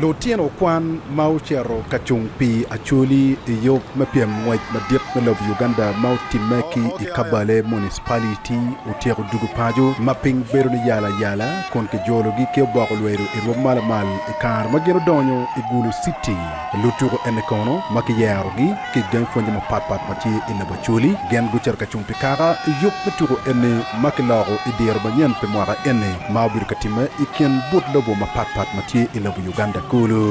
Lutino kwan ma ocito ka cung pi acholi i yub me pyem ngwec madit me lobo Uganda ma otimme ki i Kabale Municipality otyeko dwogo paco ma piny bedo ni yala yala kun kijologi ki oboko lwedo i rwom ma lamal i kare ma gin odonyo i Gulu City. Lutuko eni kono ma kiyerogi? ki i gang pwonye mapat pat ma tye i Labacoli, gin gucito ka cung pi kaka yub me tuko eni ma kiloko i dyere manyen pi mwaka eni ma obedo ka timme i kin but lobo mapat pat ma tye i lobo Uganda kulu.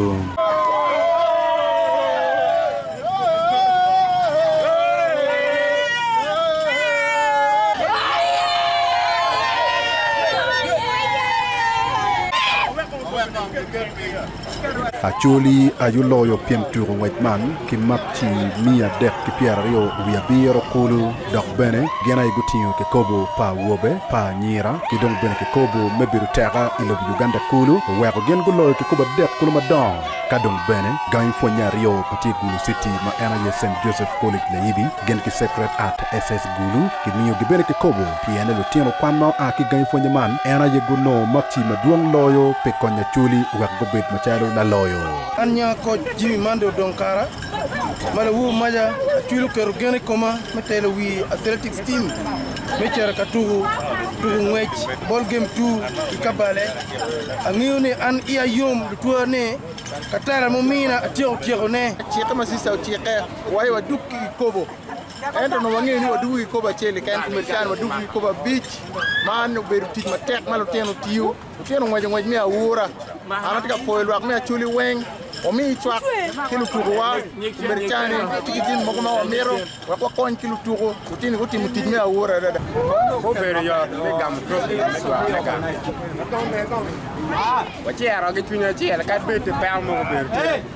Acholi aye oloyo pien tuko ngwec man ki makci miya adek ki pyeraryo wiye abiro kulu dok bene gin aye gutingo kikopo pa awobe pa anyira ki dong bene kikopo me bedo teka i lobo Uganda kulu oweko gin guloyo kikopo adek kulu madongo ka dong bene gangi pwonye aryo pa tye Gulu City ma en aye Saint Joseph College Layibi gin ki Sacred Heart SS Gulu, gimiyo gibene kikobo pien lutino kwan ma oa ki gangi pwonye man en aye gunongo makci madwong loyo pi konyo Acholi wek gubed macalo laloyo. An nya koc Jimmy Mande odong kara ma lawobi maca Acholi oketo gen i koma me telo wi athletics team me cito ka tuku tuku ngwec ball game two ki Kabale. Angeyo ni an iya yom lutwera ni ka tela mumina atyeko tyeko ne. Cikke ma Sister ocike wa aye waduk ki kikobo. Ento onongo wangeyo ni wadwogo ki kikopo acel keken, pi medo caro wadwogo ki kikopo abic. Man obedo tic matek ma lutino tiyo. Lutino ngweco ngwec me aura. An atye ka pwoyo lwak me Acholi weng. Wamiyi cwak ki lutukuwa. Pi medo caro ni watye ki jami mogo ma wamito wek wakony ki lutuku, lutini gutimo tic me aura adada. Gubedo yot me gamo topgi me gwoko me gang. Wacero ki cwiny acel kadi bed pe peko mogo obedo tye.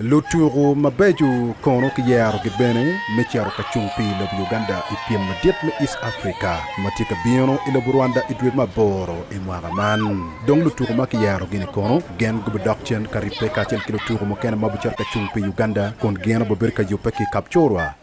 Lutuku mabeco kono kiyerogi bene me cito ka cung pi lobo Uganda i pyem madit me East Africa ma tye ka bino i lobo Rwanda i dwe me aboro i mwaka man. Dong lutuku ma kiyerogi-ni kono gin gubidok cen ka ribbe kacel ki lutuku mukene ma bicito ka cung pi Uganda kun gin obibedo ka yubbe ki i Kapchorwa.